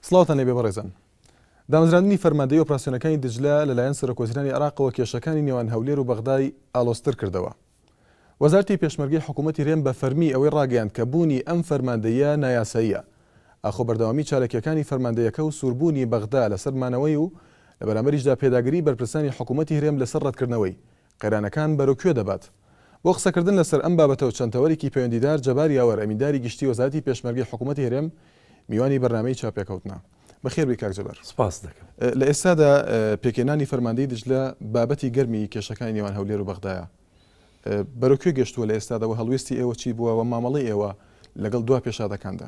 سڵاوتان لێبێ بەڕێزان. دامەزراندنی فەرماندەیی ئۆپراسیۆنەکانی دجلە لەلایەن سەرۆکوەزیرانی عێراقەوە کێشەکانی نێوان هەولێر و بەغدای ئالۆزتر کردەوە. وەزارتی پێشمەرگەی حکوومەتی رێم بە فەرمی ئەوەی راگەیاند کە بوونی ئەم فەرماندەییە نایاساییە. ئاخۆ بەردەوامی چاالکییەکانی فەرماندەیەکە و سووربوونی بەغدا لەسەر مانەوەی و لە بەرامبەریشدا پێداگریی بەرپرسانی حکوومەتی هرێم لەسەر رەتکردنەوەی قەیرانەکان بەرەو کوێ دەبات؟ بۆ قسەکردن لەسەر ئەم بابەتە و چەند تەوەرێکی پەیوەندیدار جەبار یاوەر ئەمینداری گشتی وەزارەتی پێشمەرگەی حکوومەتی هەرێم میوانی بەرنامەی چاوپێکەوتنە. بەخێربێی کاک جەبار. سپاست دەکەم. لە ئێستادا پێکهێنانی فەرماندەی دیجلە بابەتی گەرمی کێشەکانی نێوان هەولێر و بەغدایە. بەرەو کوێ گەشتووە لە ئێستادا و هەڵوێستی ئێوە چی بووە و مامەڵەی ئێوە لەگەڵ دوا پێشهاتەکاندا؟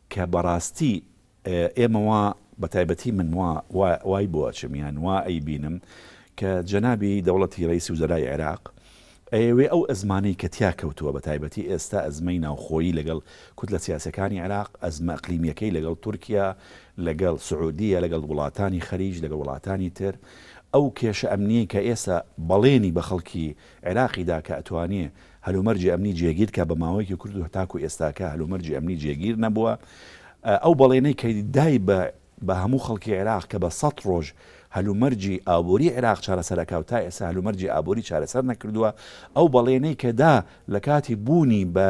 کە بەڕاستی ئێمە وا بەتایبەتی من وا وا وای بۆ ئەچم یان وا ئەیبینم کە جەنابی دەوڵەتی ڕەیسی وزەرای عێراق ئەیەوێ ئەو ئەزمانەی کە تیا کەوتووە بەتایبەتی ئێستا ئەزمەی ناوخۆیی لەگەڵ کوتلە سیاسیەکانی عێراق ئەزمە ئەقلیمیەکەی لەگەڵ تورکیا لەگەڵ سعودیە لەگەڵ وڵاتانی خەلیج لەگەڵ وڵاتانی تر ئەو کێشە ئەمنیەی کە ئێستا بەڵێنی بە خەڵکی عێراقی دا کە ئەتوانێ هەلومەرجی ئەمنی جێگیر کا بە ماوەیەکی کورت و تاکو ئێستاکە هەلومەرجی ئەمنی جێگیر نەبووە ئەو بەڵێنەی کە دای بە بە هەموو خەڵکی عێراق کە بە سەد ڕۆژ هەلومەرجی ئابووری عێراق چارەسەر ئەکا و تا ئێستا هەلومەرجی ئابووری چارەسەر نەکردووە ئەو بەڵێنەی کە دا لە کاتی بوونی بە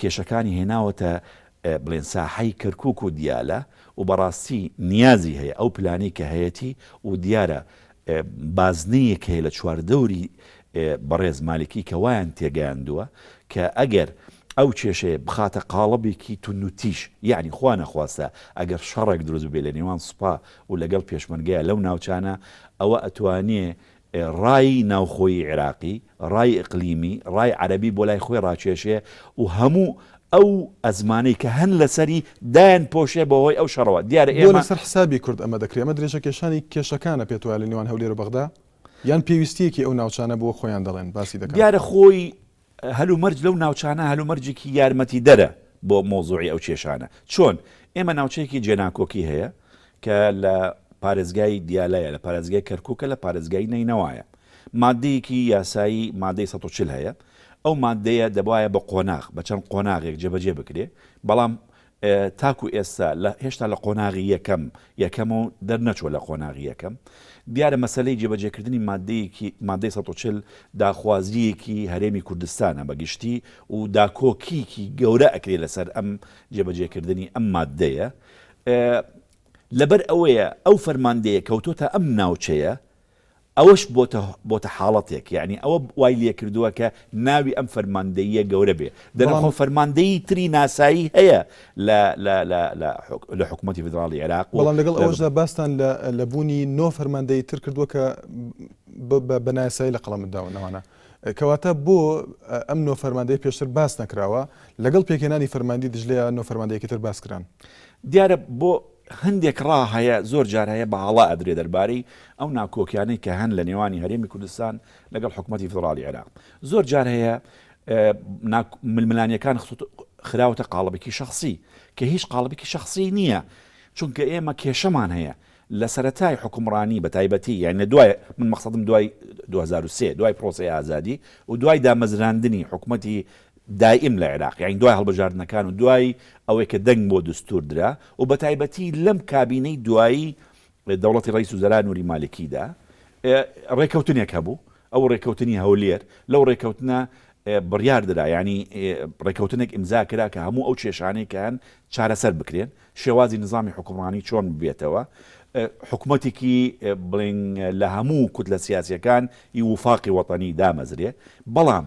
کێشەکانی هێناوەتە بڵێن ساحەی کەرکوک و دیالە و بەڕاستی نیازی هەیە ئەو پلانەی کە هەیەتی و دیارە بازنەیەک هەیە لە چواردەوری بەڕێز مالکی کە وایان تێگەیاندووە کە ئەگەر ئەو کێشەیە بخاتە قاڵبێکی توندوتیژ یانی خوانەخواستە ئەگەر شەڕێک دروست ببێت لە نێوان سوپا و لەگەڵ پێشمەرگەیە لەو ناوچانە ئەوە ئەتوانێ ڕای ناوخۆیی عێراقی، ڕای ئیقلیمی، ڕای عەرەبی بۆ لای خۆی ڕاکێشێ و هەموو ئەو ئەزمانەی کە هەن لە سەری دایانپۆشێ بە هۆی ئەو شەڕەوە. دیارە بۆ ئێمە. لەسەر حسابی کورد ئەمە دەکرێ؟ ئەمە درێژەکێشانی کێشەکانە پێت وایە لە نێوان هەولێر و بەغدا؟ یان پێویستییەکی ئەو ناوچانە بۆ خۆیان دەڵێن، باسی دەکەن؟ دیارە خۆی هەلومەرج لەو ناوچانە هەلومەرجێکی یارمەتیدەرە بۆ مەوزوعی ئەو کێشانە. چۆن؟ ئێمە ناوچەیەکی جێناکۆکی هەیە کە لە پارێزگای دیالەیە، لە پارێزگای کەرکووکە، لە پارێزگای نەینەوایە. ماددەیەکی یاسایی مادەی سەد و چل هەیە، ئەو ماددەیە دەبوایە بە قۆناغ، بە چەند قۆناغێک جێبەجێ بکرێ، بەڵام تاکو ئێستا لە هێشتا لە قۆناغی یەکەم یەکەمە و دەرنەچووە لە قۆناغی یەکەم دیارە مەسەلەی جێبەجێکردنی ماددەیەکی مادەی سەد و چل داخوازییەکی هەرێمی کوردستانە بە گشتی و داکۆکیکی گەورە ئەکرێ لەسەر ئەم جێبەجێکردنی ئەم ماددەیە لەبەر ئەوەیە ئەو فەرماندەیە کەوتۆتە ئەم ناوچەیە ئەوەش بۆتە بۆتە حاڵەتێک یەعنی ئەوە وای لێکردوە کە ناوی ئەم فەرماندەییە گەورە بێ دەنا خۆ فەرماندەیی تری ناسایی هەیە لە لە لە لە لە حکومەتی فیدراڵی عێراق و بەڵام لەگەڵ ئەوەشدا باستان لە لە بوونی نۆ فەرماندەیی تر کردوە کە بە بە نایاسایی لە قەڵەمت داون نەوانە کەواتە بۆ ئەم نۆ فەرماندەی پێشتر باس نەکراوە لەگەڵ پێکهێنانی فەرماندی دژلەیە نۆ فەرماندەیەکی تر باس کران دیارە بۆ هەندێک ڕا هەیە زۆر جار هەیە بە هەڵە ئەدرێ دەربارەی ئەو ناکۆکیانەی کە هەن لە نێوانی هەرێمی کوردستان لەگەڵ حکومەتی فیدڕاڵی عێراق زۆر جار هەیە ململانیەکان خراوەتە قاڵبێکی شخصی کە هیچ قاڵبێکی شخصی نییە چونکە ئێمە کێشەمان هەیە لە سەتای حکومڕانی بە تایبەتی یان لە دوای من مەخصدم دوای 2023 دوای پرۆسی ئازادی و دوای دامەزراندنی حکومەتی دایم لە عێراق یانی دوای هەڵبژاردنەکان و دوای ئەوەی کە دەنگ بۆ دستور درا و بەتایبەتی لەم کابینەی دوایی دەوڵەتی ڕەیس وزەرا نوری مالکیدا ڕێکەوتنێک هەبوو ئەو ڕێکەوتنی هەولێر لەو ڕێکەوتنە بڕیار درا یانی ڕێکەوتنێک ئیمزا کرا کە هەموو ئەو کێشانەی کە هەن چارەسەر بکرێن شێوازی نظامی حکومڕانی چۆن ببێتەوە حکومەتێکی بڵێن لە هەموو کوتلە سیاسیەکان ی وفاقی وەتەنی دامەزرێ بەڵام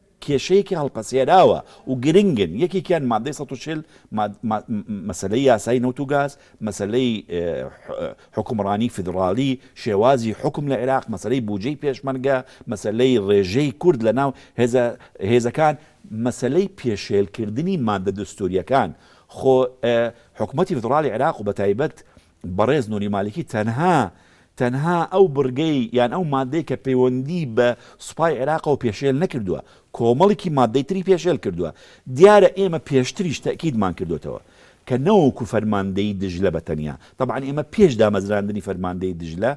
کێشەیەکی هەڵپەسێراوە و گرنگن، یەکێکیان ماددەی سەد و چل، مەسەلەی یاسای نەوت و گاز، مەسەلەی حوکمڕانی فیدڕاڵی، شێوازی حوکم لە عێراق، مەسەلەی بوجەی پێشمەرگە، مەسەلەی ڕێژەی کورد لە ناو هێزەکان، مەسەلەی پێشێلکردنی ماددە دەستوورییەکان، خۆ حکومەتی فیدڕاڵی عێراق و بەتایبەت بەڕێز نوری مالکی تەنها تەنها ئەو بڕگەی یان ئەو مادەی کە پەیوەندی بە سوپای عێراقەوە پێشێل نەکردوە کۆمەڵیکی مادەی تری پێشێل کردوە دیارە ئێمە پێشتریش تەئکیدمان کردۆتەوە کە نەوەکو فەرماندەیی دجلە بە تەنیا تەبعەن ئێمە پێش دامەزراندنی فەرماندەی دجلە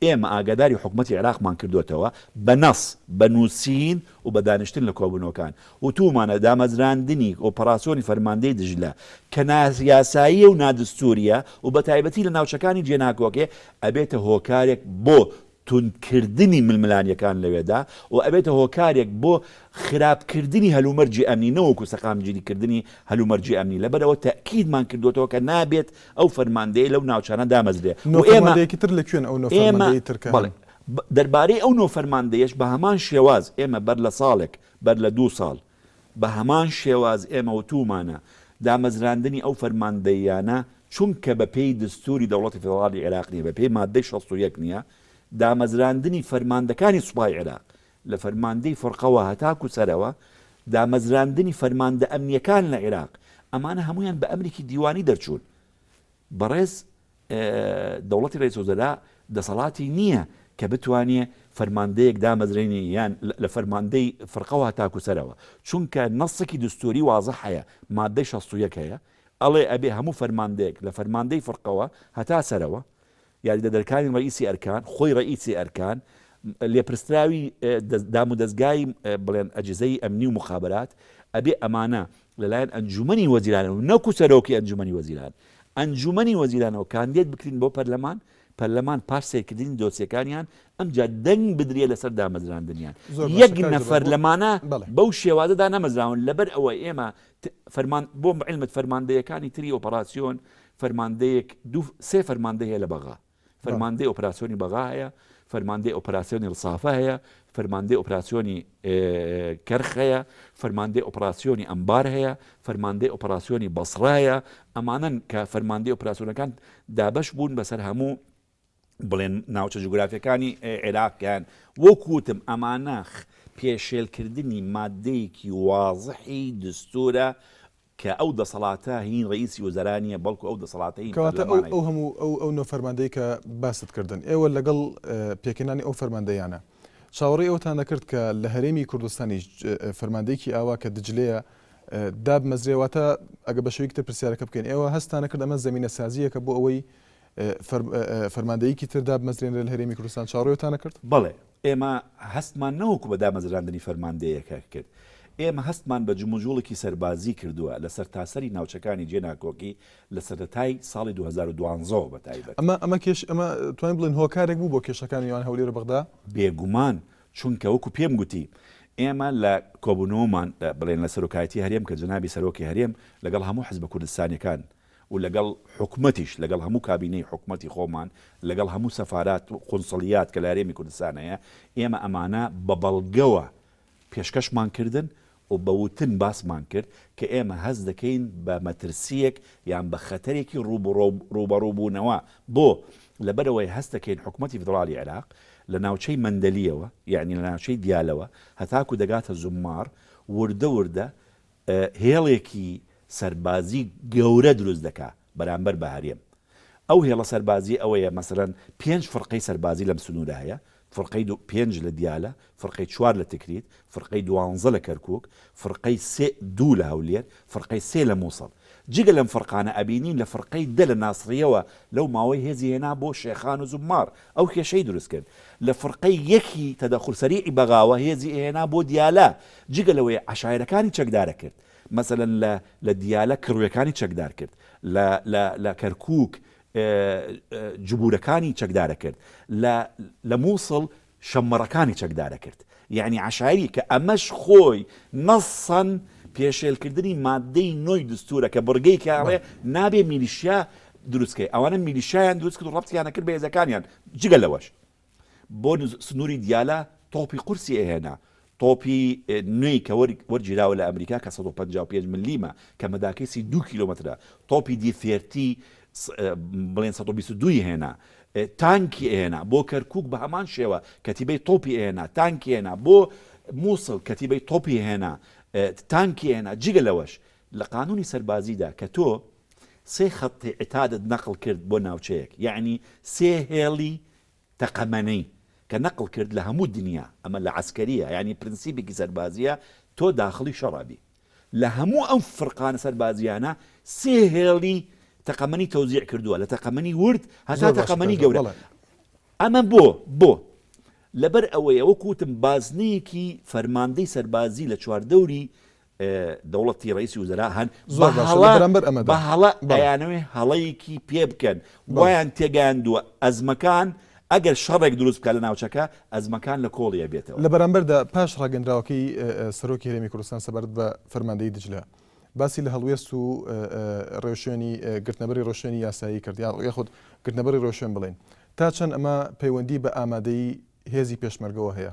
ئێمە ئاگاداری حکومەتی عێراقمان کردۆتەوە بە نەص، بە نووسین و بە دانیشتن لە کۆبوونەوەکان، وتوومانە دامەزراندنی ئۆپەراسیۆنی فەرماندەی دجلە کە نایاساییە و نادستوورییە و بە تایبەتی لە ناوچەکانی جێناکۆکێ ئەبێتە هۆکارێک بۆ توندکردنی ململانییەکان لەوێدا و ئەبێتە هۆکارێک بۆ خراپکردنی هەلومەرجی ئەمنی نەوەکوو سەقامگیریکردنی هەلومەرجی ئەمنی، لەبەرئەوە تەئکیدمان کردۆتەوە کە نابێت ئەو فەرماندەیە لەو ناوچانە دامەزرێ نۆ و ئێمە فەرماندەیەکی تر لە کوێن ئەو نۆ ئێمە فەرماندەی تر کە هەن؟ بەڵێ دەربارەی ئەو نۆ فەرماندەیەش بە هەمان شێواز ئێمە بەر لە ساڵێک بەر لە دوو ساڵ بە هەمان شێواز ئێمە وتوومانە دامەزراندنی ئەو فەرماندەییانە چونکە بە پێی دەستووری دەوڵەتی فیدڕاڵی عێراق نییە بە پێی ماددەی شەست و یەک نییە دامەزراندنی فەرماندەکانی سوپای عێراق لە فەرماندەی فەرقەوە هەتاکو سەرەوە، دامەزراندنی فەرماندە ئەمنیەکان لە عیراق، ئەمانە هەموویان بە ئەمرێکی دیوانی دەرچوون. بەڕێز دەوڵەتی رەئیس وزرا دەسەڵاتی نییە کە بتوانێ فەرماندەیەک دامەزرێنێ یان لە فەرماندەی فەرقەوە هەتاکو سەرەوە، چونکە نەسێکی دەستووری وازح هەیە، مادەی شەست و یەک هەیە، ئەڵێ ئەبێ هەموو فەرماندەیەک لە فەرماندەی فەرقەوە هەتا سەرەوە، یاریدەدەرکانی ڕەئیسی ئەرکان، خۆی ڕەئیسی ئەرکان، لێپرسراوی دامودەزگای بڵێن ئەجیزەی ئەمنی و موخابەرات، ئەبێ ئەمانە لەلایەن ئەنجومەنی وەزیرانەوە و نەکو سەرۆکی ئەنجومەنی وەزیران، ئەنجومەنی وەزیرانەوە کاندێد بکرین بۆ پەرلەمان، پەرلەمان پاش سەیرکردنی دۆسیەکانیان ئەمجا دەنگ بدرێ لەسەر دامەزراندنیان. یەک نەفەر لەمانە بەو شێوازە دانەمەزراون، لەبەر ئەوە ئێمە فەرمان بۆ علمت فەرماندەیەکانی تری ئۆپەراسیۆن فەرماندەیەک دوو سێ فەرماندەی هەیە لە بەغا فەرماندەی ئۆپراسسیۆنی بەغا هەیە فەرماندەی ئۆپراسسیۆنی ڕسافە هەیە فەرماندەی ئۆپراسسیۆنی کەرخ هەیە فەرماندەی ئۆپراسسیۆنی ئەمبار هەیە فەرماندەی ئۆپراسسیۆنی بەسڕایە ئەمانەن کە فەرماندەی ئۆپراسسیۆنەکان دابش بوون بەسەر هەموو بڵێن ناوچە جوگرافیەکانی عێراق یان وەک وتم ئەمانە پێشێلکردنی مادەیەکی وازحی دستورە کە ئەو دەسەڵاتە هین ڕئیسی وزرا نیە بەڵکو ئەو دەسەڵاتەی کەواتە ئەو هەموو ئەو ئەو نۆ فەرماندەی کە باست کردن ئێوە لەگەڵ پێکەنانی ئەو فەرماندەیانە چاوەڕی ئەوتان دەکرد کە لە هەرێمی کوردستانی فەرماندەیەکی ئاوا کە دجلەیە داب مەزرێواتە ئەگە بە شویکتە پرسیارەکە بکەین ئێوە هەستانە کرد ئەمە زمینە سازیەکە بۆ ئەوەی فەرماندەیەکی تر دابمەزرێنرێت لە هەرێمی کوردستان، چاوەڕێتان نەکرد؟ بەڵێ، ئێمە هەستمان نەوەکو بە دامەزراندنی فەرماندەیەکە کرد، ئێمە هەستمان بە جموجوڵێکی سەربازی کردووە لە سەرتاسەری ناوچەکانی جێناکۆکی لە سەرەتای ساڵی دوو هەزار و دوازدە ەوە بەتایبەت. ئەمە ئەمە کێش ئەمە توانین بڵێن هۆکارێک بوو بۆ کێشەکانی نێوان هەولێر و بەغدا؟ بێگومان، چونکە وەکو پێم گوتی، ئێمە لە کۆبوونەوەمان بڵێن لە سەرۆکایەتی هەرێم کە جەنابی سەرۆکی هەرێم لەگەڵ هەموو حزبە کوردستانیەکان و لەگەڵ حکومەتیش، لەگەڵ هەموو کابینەی حکومەتی خۆمان، لەگەڵ هەموو سەفارات و قونسڵیات کە لە هەرێمی کوردستان هەیە، ئێمە ئەمانە بە بەڵگەوە پێشکەشمان کردن و بە وتن باسمان کرد کە ئێمە هەست دەکەین بە مەترسییەک یان بە خەتەرێکی ڕووبەڕووبوونەوە. بۆ؟ لەبەرئەوەی هەست دەکەین حکومەتی فیدڕاڵی عێراق لە ناوچەی مەندەلییەوە، یانی لە ناوچەی دیالەوە هەتاکوو دەگاتە زومماڕ، وردە وردە، هێڵێکی سەربازی گەورە دروست دەکا بەرامبەر بە هەرێم ئەو هێڵە سەربازی ئەوەیە مەسەلەن پێنج فڕقەی سەربازی لەم سنورە هەیە فڕقەی دو پێنج لە دیالە فڕقەی چوار لە تکریت فڕقەی دوانزە لە کەرکوک فڕقەی سێ دو لە هەولێر فڕقەی سێ لە موسڵ جگە لەم فڕقانە ئەبینین لە فڕقەی دە لە ناسڕیەوە لەو ماوەی هێزی هێنا بۆ شێخان و زوممار ئەو کێشەی دروست کرد لە فرقەی یەکی تەدەخول سەریعی بەغاوە هێزی ئەهێنا بۆ دیالە جگە لەوەی عەشایرەکانی چەکدارە کرد مەسەلەن لە لە دیالە کڕوێکانی چەکدار کرد لە لە لە کەرکوک جبورەکانی چەکدارە کرد لە لە موسڵ شەممەڕەکانی چەکدارە کرد یەعنی عەشایری کە ئەمەش خۆی نەسەن پێشێلکردنی ماددەی نۆی دستورە کە بڕگەی کە ئەڵێ نابێ میلیشیا دروست کەی ئەوانە میلیشیایان دروست کرد و ڕەبتیان نەکرد بە هێزەکانیان جگە لەوەش بۆ سنوری دیالە تۆپی قورسی ئەهێنا تۆپی نوێی کە وەرگیراوە لە ئەمریکا کە سەد و پەنجا و پێنج ملیمە کە مەداکەی سی دوو کیلۆمەترە تۆپی دی سێرتی بڵێن سەد و بیست و دوو ی هێنا تانکی ئەهێنا بۆ کەرکوک بە هەمان شێوە کەتیبەی تۆپی ئەهێنا تانکی ئەهێنا بۆ موسڵ کەتیبەی تۆپی ئەهێنا تانکی ئەهێنا جگە لەوەش لە قانونی سەربازیدا کە تۆ سێ خەتی عتادت نەقڵ کرد بۆ ناوچەیەک یەعنی سێ هێڵی تەقەمەنی کە نەقڵ کرد لە هەموو دنیا ئەمە لە عەسکەریە یانی پرنسیبێکی سەربازیە تۆ داخڵی شەڕ ئەبی لە هەموو ئەم فرقانە سەربازیانە سێ هێڵی تەقەمەنی تەوزیع کردووە لە تەقەمەنی ورد هەتا تەقەمەنی گەورە ئەمە بۆ بۆ لەبەر ئەوەیە وەکوتم بازنەیەکی فەرماندەی سەربازی لە چواردەوری دەوڵەتی ڕەیسی وزەرا هەن زۆر باشە لە بەرامبەر ئەمەدا بە هەڵە ئەیانەوێ هەڵەیەکی پێ بکەن وایان تێگەیاندووە ئەزمەکان ئەگەر شەڕێک دروست بکات لە ناوچەکە ئەزمەکان لە کۆڵی ئەبێتەوە لە بەرامبەردا پاش ڕاگەندراوەکەی سەرۆکی هەرێمی کوردستان سەبارەت بە فەرماندەیی دجلە باسی لە هەڵوێست و ڕێوشوێنی گرتنەبەری ڕۆشوێنی یاسایی کرد یا یاخود گرتنەبەری ڕۆشوێن بڵێن تا چەند ئەمە پەیوەندی بە ئامادەی هێزی پێشمەرگەوە هەیە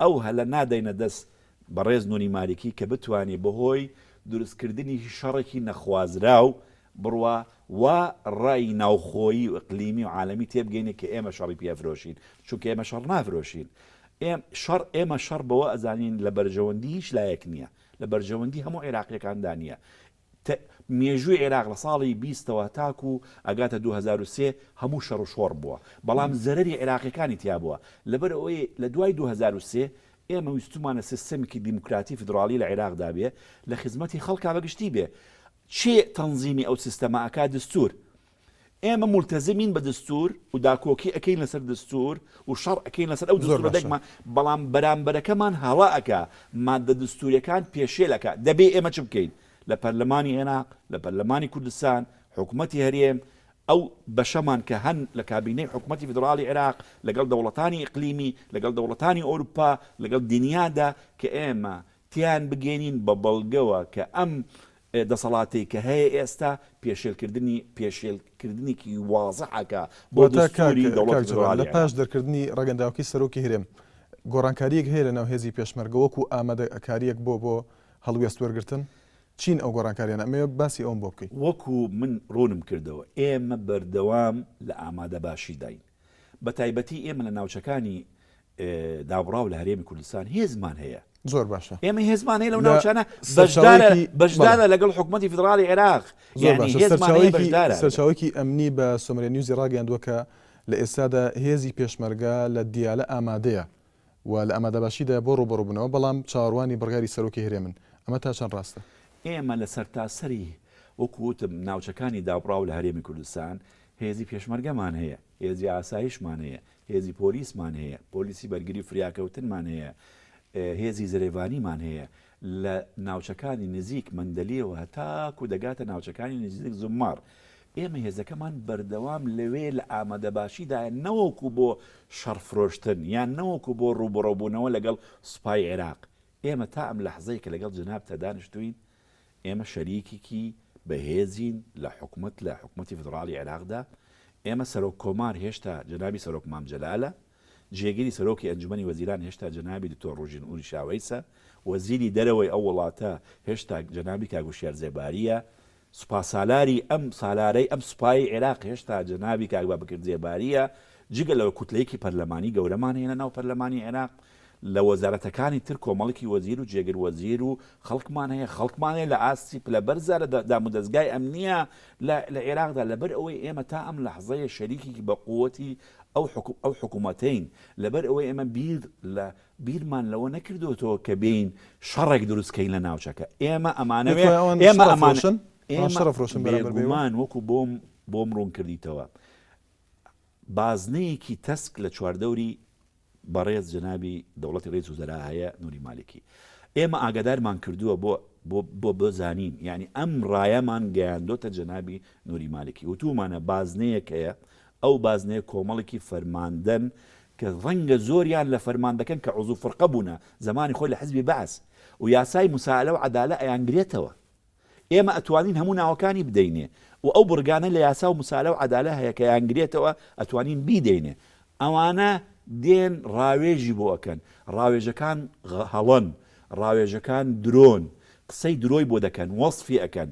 ئەو هەلە نادەینە دەست بەڕێز نوری مالیکی کە بتوانێ بەهۆی دروست کردنی شەڕێکی نەخوازراو بڕوا وا ڕای ناوخۆیی و ئیقلیمی و عالەمی تێبگەینێ کە ئێمە شەڕی پێ ئەفرۆشین چونکە ئێمە شەڕ نافرۆشین ئێم شەڕ ئێمە شەڕ بەوە ئەزانین لە بەرژەوەندی هیچ لایەک نیە لە بەرژەوەندی هەموو عیراقیەکاندا نیە تە مێژووی عێراق لە ساڵی بیستەوە تاکوو ئەگاتە دوو هەزار و سێ هەموو شەڕ و شۆڕ بووە بەڵام زەرەری عێراقییەکانی تیا بووە لەبەر ئەوەی لە دوای دوو هەزار و سێ ئێمە ویستوومانە سیستەمێکی دیموکراتی فیدڕاڵی لە عێراقدا بێ لە خزمەتی خەڵکا بە گشتی بێ چێ تەنزیمی ئەو سیستەمە ئەکا دستوور ئێمە مولتەزمین بە دەستور و داکۆکی ئەکەین لەسەر دەستور و شەڕ ئەکەین لەسەر ئەو دەستورە دەگمەن، بەڵام بەرامبەرەکەمان هەڵە ئەکا ماددە دەستوریەکان پێشێل ئەکا، دەبێ ئێمە چ بکەین؟ لە پەرلەمانی عێراق، لە پەرلەمانی کوردستان، حکومەتی هەرێم، ئەو بەشەمان کە هەن لە کابینەی حکومەتی فیدڕاڵی عێراق، لەگەڵ دەوڵەتانی ئیقلیمی، لەگەڵ دەوڵەتانی ئۆروپا، لەگەڵ دنیادا کە ئێمە تێیان بگەینین بە بەڵگەوە کە ئەم دەسەڵاتەی کە هەیە ئێستا پێشێل کردنی پێشێل کردنێکی وازحە کە بۆ واتە کاک دەستوری دەوڵەتی کاک جەلال فیدڕالی لە پاش عێراق. دەرکردنی ڕاگەنداوکەی سەرۆکی هەرێم گۆڕانکاریەک هەیە لەناو هێزی پێشمەرگە وەکو ئامادەکاریەک بۆ بۆ هەڵوێست وەرگرتن؟ چین ئەو گۆڕانکاریانە؟ ئەمەوێ باسی ئەوەم بۆ بکەی. وەکو من ڕوونم کردەوە ئێمە بەردەوام لە ئامادەباشیداین بە تایبەتی ئێمە لە ناوچەکانی دابڕاو لە هەرێمی کوردستان هێزمان هەیە زۆر باشە ئێمە هێزمان هەیە لەو ناوچانە بەشدارە بەشدارە لەگەڵ حکوومەتتی فیدراڵی عێراق سەرچاوێکی ئەمنی بە سۆمرە نیوزی ڕاگەیاندووە کە لە ئێستادا هێزی پێشمەرگا لە دیالە ئامادەیە و لە ئامادەباشیدایە بۆ ڕووبەڕووبوونەوە، بەڵام چاوەڕوانی بڕیاری سەرۆکی هەرێمن، ئەمە تا چەند ڕاستە؟ ئێمە لە سەرتاسەری وەکو وتم ناوچەکانی دابڕاو لە هەرێمی کوردستان هێزی پێشمەرگەمان هەیە، هێزی ئاسایشمان هەیە، هێزی پۆلیسمان هەیە، پۆلیسی بەرگری و فریاکەوتنمان هەیە، هێزی زرێڤانیمان هەیە، لە ناوچەکانی نزیک مەندەلیەوە هەتاکو دەگاتە ناوچەکانی نزیک زوممار، ئێمە هێزەکەمان بەردەوام لەوێ لە ئامادەباشیدایە نەوەکو بۆ شەڕ فرۆشتن یان نەوەکو بۆ ڕووبەڕوبوونەوە لەگەڵ سوپای عێراق، ئێمە تا ئەم لەحزەی کە لەگەڵ جەنابتە دانیشتووین ئێمە شەریکێکی بەهێزین لە حکومەت لە حکومەتی فیدڕاڵی عێراقدا، ئێمە سەرۆک کۆمار هێشتا جەنابی سەرۆک مام جەلالە، جێگری سەرۆکی ئەنجومەنی وەزیران هێشتا جەنابی دکتۆر ڕوژین ئوریشاوەیسە، وەزیری دەرەوەی ئەو وڵاتە هێشتا جەنابی کاک هوشیار زێبارییە، سوپاسالاری ئەم سالارەی ئەم سوپای عێراق هێشتا جەنابی کاک بابەکر زێبارییە، جگە لەوە کوتلەیەکی پەرلەمانی گەورەمان هەیە لەناو پەرلەمانی عێراق، لە وەزارەتەکانی تر کۆمەڵکی وەزیر و جێگر وەزیر و خەڵکمان هەیە، خەڵکمان هەیە لە ئاستی پلە بەرزە لە دامودەزگای ئەمنییە لە عێراقدا، لەبەرئەوەی ئێمە تا ئەم لەحزەیە شەریکێکی بەقووەتی ئەو حکوم ئەو حکومەتەین لەبەر ئەوەی ئێمە بیر لە بیرمان لەوە نەکردۆتەوە کە بێین شەڕێک دروست کەین لە ناوچەکە ئێمە ئەمانەوێ ئێمە ئەمان ئێمە بێگومان وەکو بۆم بۆم ڕوون کردیتەوە بازنەیەکی تەسک لە چواردەوری بەڕێز جەنابی دەوڵەتی ڕیس وزەرا هەیە نوری مالکی ئێمە ئاگادارمان کردووە بۆ بۆ بۆ بۆ زانین یانی ئەم ڕایەمان گەیاندۆتە جەنابی نوری مالکی وتومانە بازنەیەک هەیە ئەو بازنەیە کۆمەڵێکی فەرماندەن کە ڕەنگە زۆریان لە فەرماندەکەن کە عزو فرقە بوونە زەمانی خۆی لە حزبی بەعس و یاسای مسائلە و عەدالە ئەیانگرێتەوە ئێمە ئەتوانین هەموو ناوەکانی بدەینێ و ئەو بڕگانە لە یاسا و مسالە و عەدالە هەیە کە یانگرێتەوە ئەتوانین بیدەینێ ئەوانە دێن ڕاوێژی بۆ ئەکەن ڕاوێژەکان هەڵەن ڕاوێژەکان درۆن قسەی درۆی بۆ دەکەن وەسفی ئەکەن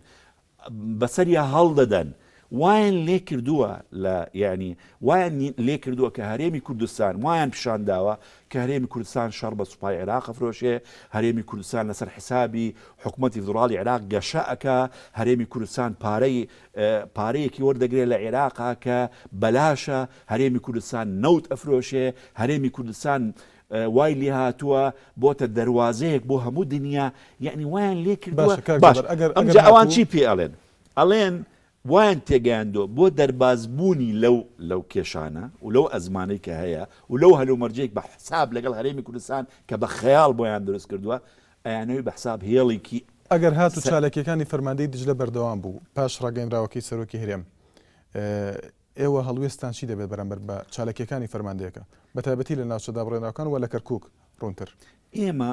بەسەریا هەڵدەدەن وایان لێ کردووە لە یانی وایان لێ کردووە کە هەرێمی کوردستان وایان پیشان داوە کە هەرێمی کوردستان شەڕ بە سوپای عێراق ئەفرۆشێ، هەرێمی کوردستان لەسەر حسابی حکومەتی فیدڕاڵی عێراق گەشە ئەکا، هەرێمی کوردستان پارەی پارەیەکی وەردەگرێ لە عێراقا کە بەلاشە، هەرێمی کوردستان نەوت ئەفرۆشێ، هەرێمی کوردستان وای لێ هاتووە بۆتە دەروازەیەک بۆ هەموو دنیا یانی وایان لێ کردووە، باشە کاک جەبار ئەگەر ئەگەر ئەمجا ئەوان هاتوو چی پێ ئەڵێن؟ ئەڵێن وایان تێگەیاندووە بۆ دەربازبوونی لەو لەو کێشانە و لەو ئەزمانەی کە هەیە و لەو هەلومەرجەی بە حساب لەگەڵ هەرێمی کوردستان کە بە خەیاڵ بۆیان دروست کردووە، ئەیانەوی بە حساب هێڵیکی. ئەگەر هاتوو چاالکییەکانی فەرماندەیی دیجلە بەردەوام بوو پاش ڕاگەیەنراوەکەی سەرۆکی هەرێم، ئێوە هەڵوێستتان چی دەبێت بەرامبەر بە چاالکییەکانی فەرماندەیەکە، بەتایبەتی لە ناوچە دابڕێنراوەکان و لە کەرکووک ڕوونتر؟ ئێمە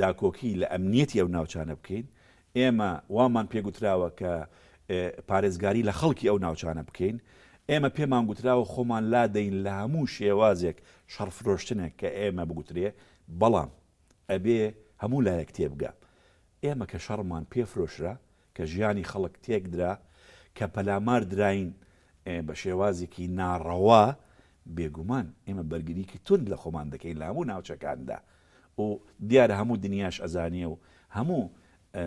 داکۆکی لە ئەمنییەتی ئەو ناوچانە بکەین، ئێمە وامان پێ گوتراوە کە پارێزگاری لە خەڵکی ئەو ناوچانە بکەین، ئێمە پێمان گوتراوە خۆمان لادەین لە هەموو شێوازێک شەڕ فرۆشتنێک کە ئێمە بگوترێ، بەڵام ئەبێ هەموو لایەک تێبگا ئێمە کە شەڕمان پێ فرۆشرا کە ژیانی خەڵک تێکدرا، کە پەلامار دراین بە شێوازێکی ناڕەوا، بێگومان ئێمە بەرگریکی توند لە خۆمان دەکەین لە هەموو ناوچەکاندا و دیارە هەموو دنیاش ئەزانێ و هەموو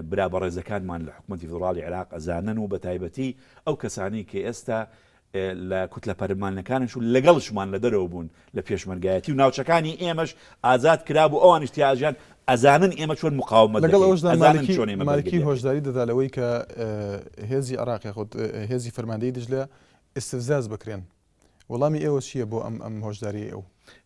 برا بەڕێزەکانمان لە حکومەتی فیدڕاڵی عێراق ئەزانن و بەتایبەتی ئەو کەسانەی کە ئێستا لە کوتلە پەرلمانەکانیش و لەگەڵشمان لە دەرەوە بوون لە پێشمەرگایەتی و ناوچەکانی ئێمەش ئازاد کرابوو ئەوانیش تیا ئەژیان ئەزانن ئێمە چۆن مقاومەت لەگەڵ دەکەین ئەوەشدا ئەزانن مالکی چۆن ئێمە مالکی بەرگرییەکەین. هۆشداری دەدا لەوەی کە ئە، هێزی عێراق یاخود ئە، هێزی فەرماندەیی دجلە ئیستفزاز بکرێن وەڵامی ئێوە چییە بۆ ئەم ئەم هۆشدارییەی ئەو؟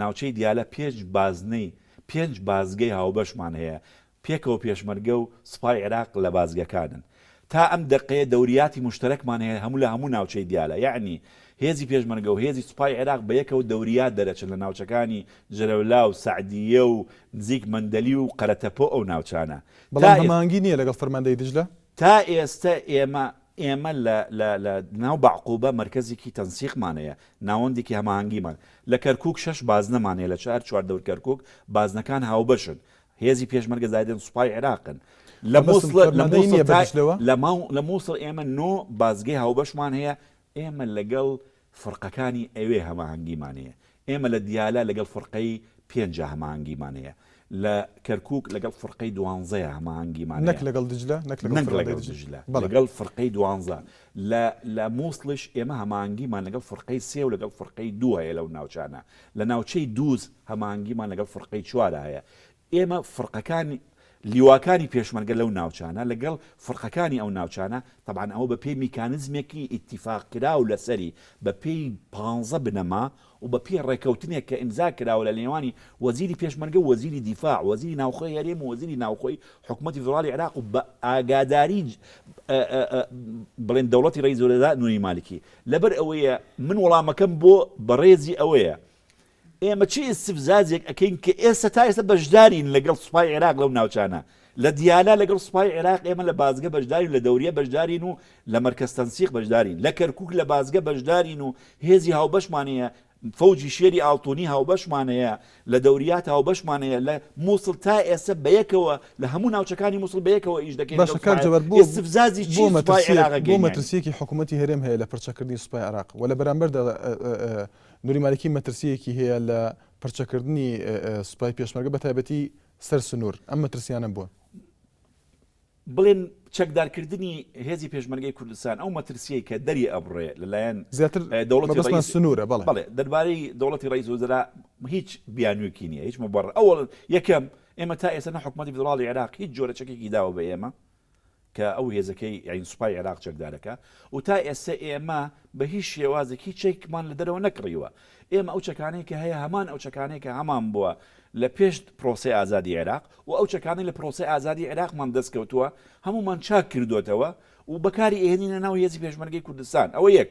ناوچەی دیالە پێنج بازنەی پێنج بازگەی هاوبەشمان هەیە، پێکەوە پێشمەرگە و سوپای عێراق لە بازگەکانن. تا ئەم دەقەیە دەوریاتی موشتەرەکمان هەیە هەموو لە هەموو ناوچەی دیالە، یەعنی هێزی پێشمەرگە و هێزی سوپای عێراق بە یەکەوە دەوریات دەرەچن لە ناوچەکانی جەلەولا و سەعدییە و نزیک مەندەلی و قەرەتەپە و ئەو ناوچانە. تا بەڵام ئێس. هەماهەنگی نییە لەگەڵ فەرماندەیی دیجلە؟ تا ئێستە ئێمە ئێمە لە لە لە ناو بەعقوبە مەرکەزێکی تەنسیقمان هەیە، ناوەندێکی هەماهەنگیمان. لە کەرکووک شەش بازنەمان هەیە لە چار چواردەور کەرکووک، بازنەکان هاوبەشن. هێزی پێشمەرگە زایدەن سوپای عێراقن. لە موسڵ لە موسڵ تا لە ماو لە موسڵ ئێمە نۆ بازگەی هاوبەشمان هەیە، ئێمە لەگەڵ فڕقەکانی ئەوێ هەماهەنگیمان هەیە، ئێمە لە دیالە لەگەڵ فڕقەی پێنجا هەماهەنگیمان هەیە، لە کەرکووک لەگەڵ فڕقەی دوانزەیا هەماهەنگیمان نەک هەیە، لەگەڵ دجلە، نەک لەگەڵ نەک فڕقەی لەگەڵ دجلە. دجلە، بەڵێ. لەگەڵ فڕقەی دوانزە. لە لە مووسڵیش ئێمە هەماهەنگیمان لەگەڵ فڕقەی سێ و لەگەڵ فڕقەی دوو هەیە لەو ناوچانە. لە ناوچەی دووز هەماهەنگیمان لەگەڵ فڕقەی چوارا هەیە. ئێمە فڕقەکان لیواکانی پێشمەرگە لەو ناوچانە لەگەڵ فڕقەکانی ئەو ناوچانە تەبعەن ئەوە بەپێی میکانزمێکی ئیتیفاق کراو لەسەری بەپێی پانزە بنەما و بەپێی ڕێکەوتنێک کە ئیمزا کراوە لە نێوانی وەزیری پێشمەرگە و وەزیری دیفاع و وەزیری ناوخۆی هەرێم و وەزیری ناوخۆی حکومەتی فیدڕاڵی عێراق و بە ئاگاداری بڵێن دەوڵەتی ڕەئیس الوزراء نوری مالکی لەبەر ئەوەیە من وەڵامەکەم بۆ بەڕێزی ئەوەیە ئێمە چ ئیستفزازێک ئەکەین کە ئێستا تا ئێستا بەشدارین لەگەڵ سوپای عێراق لەو ناوچانە، لە دیالە لەگەڵ سوپای عێراق ئێمە لە بازگە بەشدارین و لە دەوریە بەشدارین و لە مەرکەز تەنسیق بەشدارین، لە کەرکووک لە بازگە بەشدارین و هێزی هاوبەشمان هەیە، فەوجی شێری ئاڵتوونی هاوبەشمان هەیە، لە دەوریات هاوبەشمان هەیە، لە مووسڵ تا ئێستا بەیەکەوە لە هەموو ناوچەکانی مووسڵ بەیەکەوە ئیش دەکەین لەگەڵ سوپای عێراق، ئیستفزازی چی سوپای عێراق ئەکەین یانی؟ بۆ مەترسییەکی حکوومەتی هەرێم هەیە لە پڕچەکردنی سوپای عێراق و لە بەرامبەردا نوری مالکی مەترسییەکی هەیە لە پرچەکردنی سوپای پێشمەرگە بەتایبەتی سەر سنوور، ئەم مەترسییانە بۆ؟ بڵێن چەکدارکردنی هێزی پێشمەرگەی کوردستان ئەو مەترسییەی کە دەری ئەبڕێ لەلایەن زیاتر دەوڵەتی ڕەئیس، مەبەستمان سنوورە بەڵێ. بەڵێ، دەربارەی دەوڵەتی ڕەئیس وزرا هیچ بیانوویەکی نییە، هیچ مبڕر، ئەوەڵ یەکەم ئێمە تا ئێستا نە حکومەتی فیدڕاڵی عێراق هیچ جۆرە چەکێکی داوە بە ئێمە، کە ئەو هێزەکەی یانی سوپای عێراق چەکدارەکە و تا ئێستە ئێمە بە هیچ شێوازێک هیچ چەکمان لە دەرەوە نەکڕیوە. ئێمە ئەو چەکانەی کە هەیە هەمان ئەو چەکانەیە کە هەمان بووە لە پێش پرۆسەی ئازادی عێراق و ئەو چەکانەی لە پرۆسەی ئازادی عێراقمان دەست کەوتووە هەموومان چاک کردۆتەوە و بەکاری ئەهێنینە ناو هێزی پێشمەرگەی کوردستان. ئەوە یەک.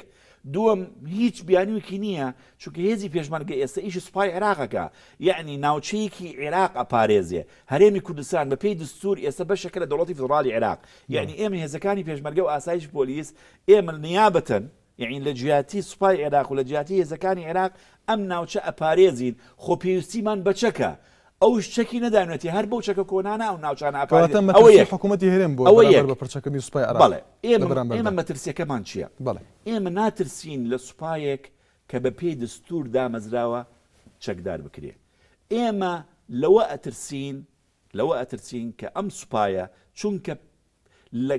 دووەم هیچ بیانویەکی نییە چونکە هێزی پێشمەرگە ئێستا ئیشی سوپای عێراقەکە یەعنی ناوچەیەکی عێراق ئەپارێزێ هەرێمی کوردستان بە پێی دستور ئێستا بەشێکە لە دەوڵەتی فیدڕاڵی عێراق یەعنی ئێمە هێزەکانی پێشمەرگە و ئاسایش پۆلیس ئێمە نیابەتەن یەعنی لە جیاتی سوپای عێراق و لە جیاتی هێزەکانی عێراق ئەم ناوچە ئەپارێزین خۆ پێویستیمان بە چەکە ئەوش چەکی نەداوینەتی هەر بەو چەکە کۆنانە ئەو ناوچانە ئەپارێزێت، ئەوە یەک. کەواتە مەترسی حکوومەتی هەرێم بۆ بەرامبەر بە پڕچەکردنی سوپای عێراق لە بەرامبەردا؟ بەڵێ، ئێمە مەترسییەکەمان چییە؟ ئێمە ناترسین لە سوپایەک کە بە پێی دەستوور دامەزراوە چەکدار بکرێت. ئێمە لەوە ئەترسین لەوە ئەترسین کە ئەم سوپایە چونکە لە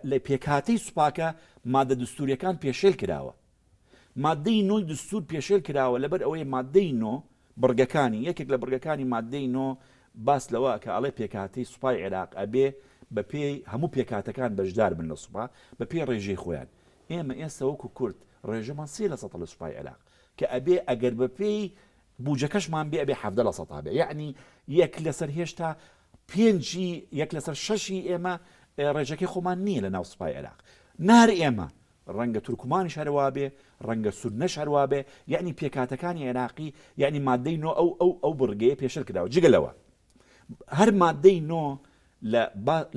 لە پێکهاتەی سوپاکە مادە دەستوورییەکان پێشێل کراوە. ماددەی نۆی دەستوور پێشێل کراوە لەبەر ئەوەی ماددەی نۆ بڕگەکانی، یەکێک لە بڕگەکانی ماددەی نۆ باس لەوە ئەکا ئەڵێ پێکهاتەی سوپای عێراق ئەبێ بە پێی هەموو پێکهاتەکان بەشدار بن لە سوپا بە پێی ڕێژەی خۆیان. ئێمە ئێستا وەکوو کورد ڕێژەمان سێ لە سەدا لە سوپای عێراق کە ئەبێ ئەگەر بە پێی بووجەکەشمان بێ ئەبێ حەڤدە لە سەدا بێ یەعنی یەک لە سەر هێشتا پێنجی یەک لەسەر شەشی ئێمە ڕێژەکەی خۆمان نییە لە ناو سوپای عێراق نار ئێمە ڕەنگە تورکمانیش هەروابێ ڕەنگە سورنەش هەروابێ یعنی پێکاتەکانی عێراقی یعنی مادەی نۆ ئەو ئەو ئەو بڕگەیە پێشر کراوە جگە لەوە هەر مادەی نۆ لە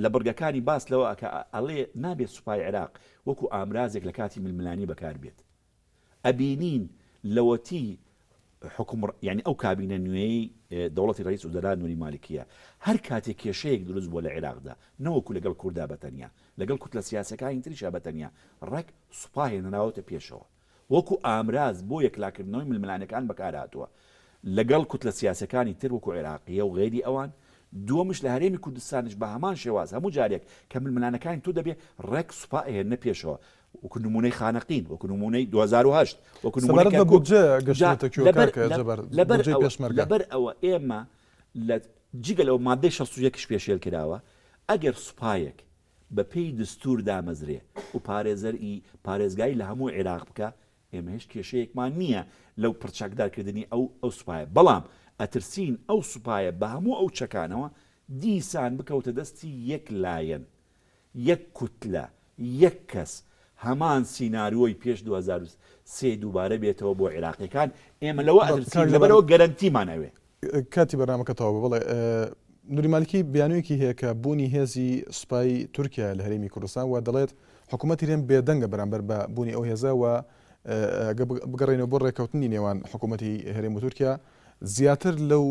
لە بڕگەکانی باس لەوە کە ئەڵێ نابێت سوپای عێراق وەکو ئامرازێک لە کاتی ململانی بەکار بێت ئەبینین لەوەتی حکوم یانی ئەو کابینە نوێیەی دەوڵەتی ڕەییس وزەرا نوری مالکیە هەر کاتێ کێشەیەک دروست بووە لە عێراقدا نەوەکو لەگەڵ کوردا بەتەنیا لەگەڵ کوتلە سیاسەکانی تریشا بەتەنیا ڕێک سوپا هێنراوەتە پێشەوە وەکو ئامراز بۆ یەکلاکردنەوەی ململانێکان بەکارهاتووە لەگەڵ کوتلە سیاسەکانی تر وەکو عێراقیە و غەیری ئەوان دووەمش لە هەرێمی کوردستانیش بە هەمان شێواز هەموو جارێک کە ململانەکانی تو دەبێ ڕێک سوپا ئەهێننە پێشەوە وەکو نموونەی خانەقین، وەکو نموونەی دوو هەزار و هەشت، وەکو نموونەی سەبارەت بە کەرکووک. بودجە جا گەشتووەتە کوێ لەبەر کاکە لە جەبار، لەبەر بودجەی ئەوە پێشمەرگە؟ لەبەر ئەوە ئێمە لە جگە لەوە ماددەی شەست و یەک ش پێشێل کراوە، ئەگەر سوپایەک بە پێی دستوور دامەزرێ و پارێزەر ی پارێزگای لە هەموو عێراق بکا، ئێمە هێچ کێشەیەکمان نییە لەو پڕ چەکدار کردنی ئەو ئەو سوپایە، بەڵام ئەترسین ئەو سوپایە بە هەموو ئەو چەکانەوە دیسان بکەوتە دەستی یەک لایەن یەک کوتلە، یەک کەس، هەمان سینارۆی پێش دوو هەزار و سێ دووبارە بێتەوە بۆ عێراقیەکان، ئێمە لەوە ئەترسین، لەبەرئەوە گەرەنتیمان ئەوێ. کاتی بەرنامەکە تەواو بوو بەڵێ نوری مالکی بیانویەکی هەیە کە بوونی هێزی سوپای تورکیایە لە هەرێمی کوردستان و دەڵێت حکوومەتی هەرێم بێدەنگە بەرامبەر بە بوونی ئەو هێزە و ئەگەر بگەڕێنەوە بۆ ڕێککەوتنی نێوان حکوومەتی هەرێم و تورکیا زیاتر لەو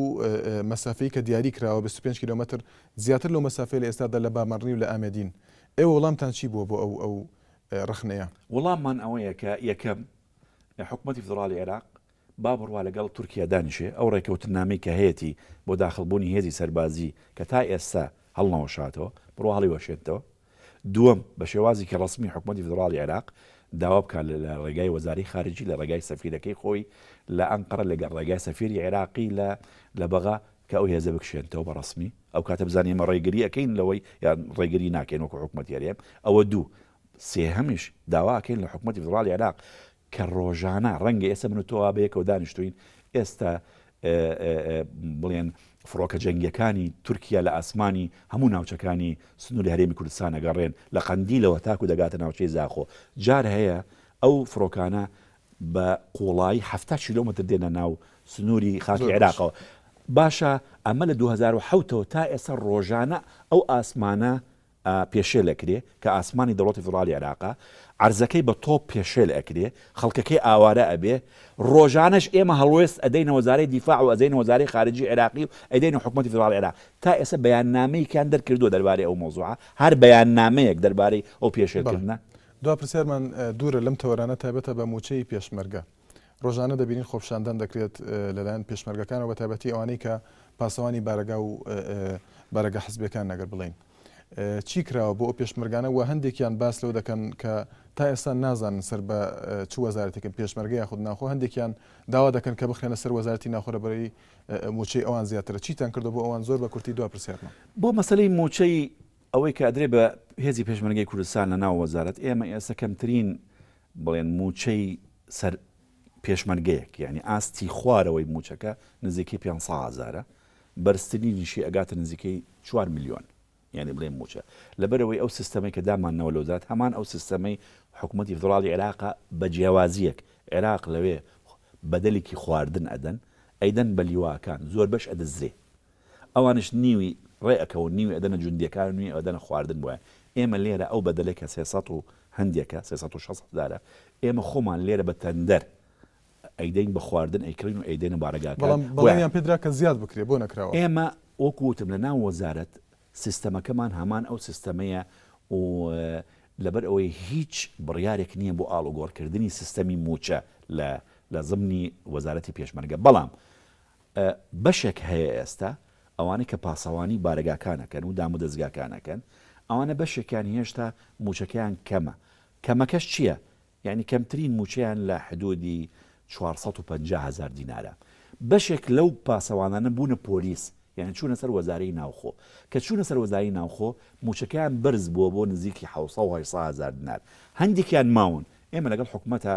مەسافەی کە دیاری کراوە بیست و پێنج کیلۆمەتر زیاتر لەو مەسافەی لە ئێستادا لە بامەڕنی و لە ئامێدین. ئێوە وڵامتان چی بووە بۆ ئەو ئەو ڕەخنەیە؟ وڵاممان ئەوەیە کە یەکەم، حکومەتی فیدڕاڵی عێراق با بڕوا لەگەڵ تورکیا دانیشێ، ئەو ڕێککەوتننامەی کە هەیەتی بۆ داخڵبوونی هێزی سەربازی کە تا ئێستا هەڵنەوەشاتەوە، بڕوا هەڵیوەشێنتەوە. دووەم، بە شێوازێکی ڕەسمی حکومەتی فیدڕاڵی عێراق داوا بکات لە ڕێگای وەزارەی خارجی لە ڕێگای سەفیرەکەی خۆی لە ئەنقەرە لەگەڵ ڕێگای سەفیری عێراقی لە لە بەغا کە ئەو هێزە بکشێنتەوە بە ڕەسمی ئەو کاتە بزانین ئێمە ڕێگری ئەکەین لەوەی یان ڕێگری ناکەین وەکو حکومەتی هەرێم ئەوە دوو سێهەمیش داوا ئەکەین لە حکومەتی فیدڕاڵی عێراق کە ڕۆژانە، ڕەنگە ئێستا من و تۆ وا بەیەکەوە دانیشتووین، ئێستا بڵێن فڕۆکە جەنگییەکانی تورکیا لە ئاسمانی هەموو ناوچەکانی سنووری هەرێمی کوردستان ئەگەڕێن، لە قەندیلەوە تاکوو دەگاتە ناوچەی زاخۆ. جار هەیە ئەو فڕۆکانە بە قووڵایی حەفتا کیلۆمەتر دێنە ناو سنووری خاکی عێراقەوە. باشە ئەمە لە دوو هەزار و حەوت ەوە تا ئێستا ڕۆژانە ئەو ئاسمانە پێشێل ئەکرێ کە ئاسمانی دەوڵەتی فیدڕاڵی عێراقە، عەرزەکەی بە تۆپ پێشێل ئەکرێ، خەڵکەکەی ئاوارە ئەبێ، ڕۆژانەش ئێمە هەڵوێست ئەدەینە وەزارەی دیفاع و ئەزەینە وەزارەی خارجی عێراقی و ئەیدەینە حکومەتی فیدڕاڵی عێراق، تا ئێستا بەیاننامەیەکیان دەرکردووە دەربارەی ئەو مەوزوعە، هەر بەیاننامەیەک دەربارەی ئەو پێشێل کردنە؟ بەڵێ، دوا پرسیارمان دوورە لەم تەوەرانە تایبەتە بە مووچەی پێشمەرگە. ڕۆژانە دەبینین خۆپیشاندان دەکرێت لەلایەن پێشمەرگەکانەوە بە تایبەتی ئەوانەی کە پاسەوانی بارەگا و بارەگە حزبەکان نەگەر بڵین چی کراوە بۆ ئەو پێشمەرگانە و هەندێکیان باس لەو دەکەن کە تا ئێستا نازانن سەر بە چ وەزارەتێکن پێشمەرگە یاخود ناخۆ هەندێکیان داوا دەکەن کە بخێنە سەر وەزارتی ناخۆرەبەری موچەی ئەوان زیاترە چیتان کردو بۆ ئەوان زۆر بە کورتی دو پرسیارمە بۆ مەسلەی موچەی ئەوەی کادرێ بە هێزی پێشمەرگەی کوردستان لە ناو وەزارەت ئێمە ئێستا کەمترین بڵێن مووچەی سەر پێشمەرگەیەک یانی ئاستی خوارەوەی مووچەکە نزیکەی پێنج سەد هەزارە، بەرزترینیشی ئەگاتە نزیکەی چوار ملیۆن، یانی بڵێن مووچە. لەبەرئەوەی ئەو سیستەمەی کە داماننەوە لە وەزارەت هەمان ئەو سیستەمەی حکومەتی فیدڕاڵی عێراقە بە جیاوازییەک عێراق لەوێ بەدەلێکی خواردن ئەدەن، ئەیدەن بە لیواکان، زۆربەش ئەدزرێ. ئەوانیش نیوی ڕێ ئەکەون نیوی ئەدەنە جوندیەکان و نیوی ئەدەنە خواردن بۆیان ئێمە لێرە ئەو بەدەلەی کە سێ سەد و هەندێکە سێ سەد و شەست هەزارە ئێمە خۆمان لێرە بە تەندەر ئەیدەین بە خواردن ئەیکڕین و ئەیدەینە بارەگاکان بەڵام بۆیان بەڵێنیان پێدرا کە زیاد بکرێ بۆ نەکراوە؟ ئێمە وەکو وتم لە ناو وەزارەت سیستەمەکەمان هەمان ئەو سیستەمەیە و لەبەر ئەوەی هیچ بڕیارێک نیە بۆ ئاڵوگۆڕکردنی سیستەمی موچە لە لە زمنی وەزارەتی پێشمەرگە بەڵام بەشێک هەیە ئێستا ئەوانەی کە پاسەوانی بارەگاکانەکەن و دامودەزگاکانەکەن ئەوانە بەشێکیان هێشتا مووچەکەیان کەمە، کەمەکەش چییە؟ یانی کەمترین مووچەیان لە حدوودی چوار سەد و پەنجا هەزار دینارە. بەشێک لەو پاسەوانانە بوونە پۆلیس، یانی چوونە سەر وەزارەی ناوخۆ. کە چوونە سەر وەزارەی ناوخۆ مووچەکەیان بەرز بووە بۆ نزیکی حەوت سەد و هەشت سەد هەزار دینار. هەندێکیان ماون، ئێمە لەگەڵ حکومەتا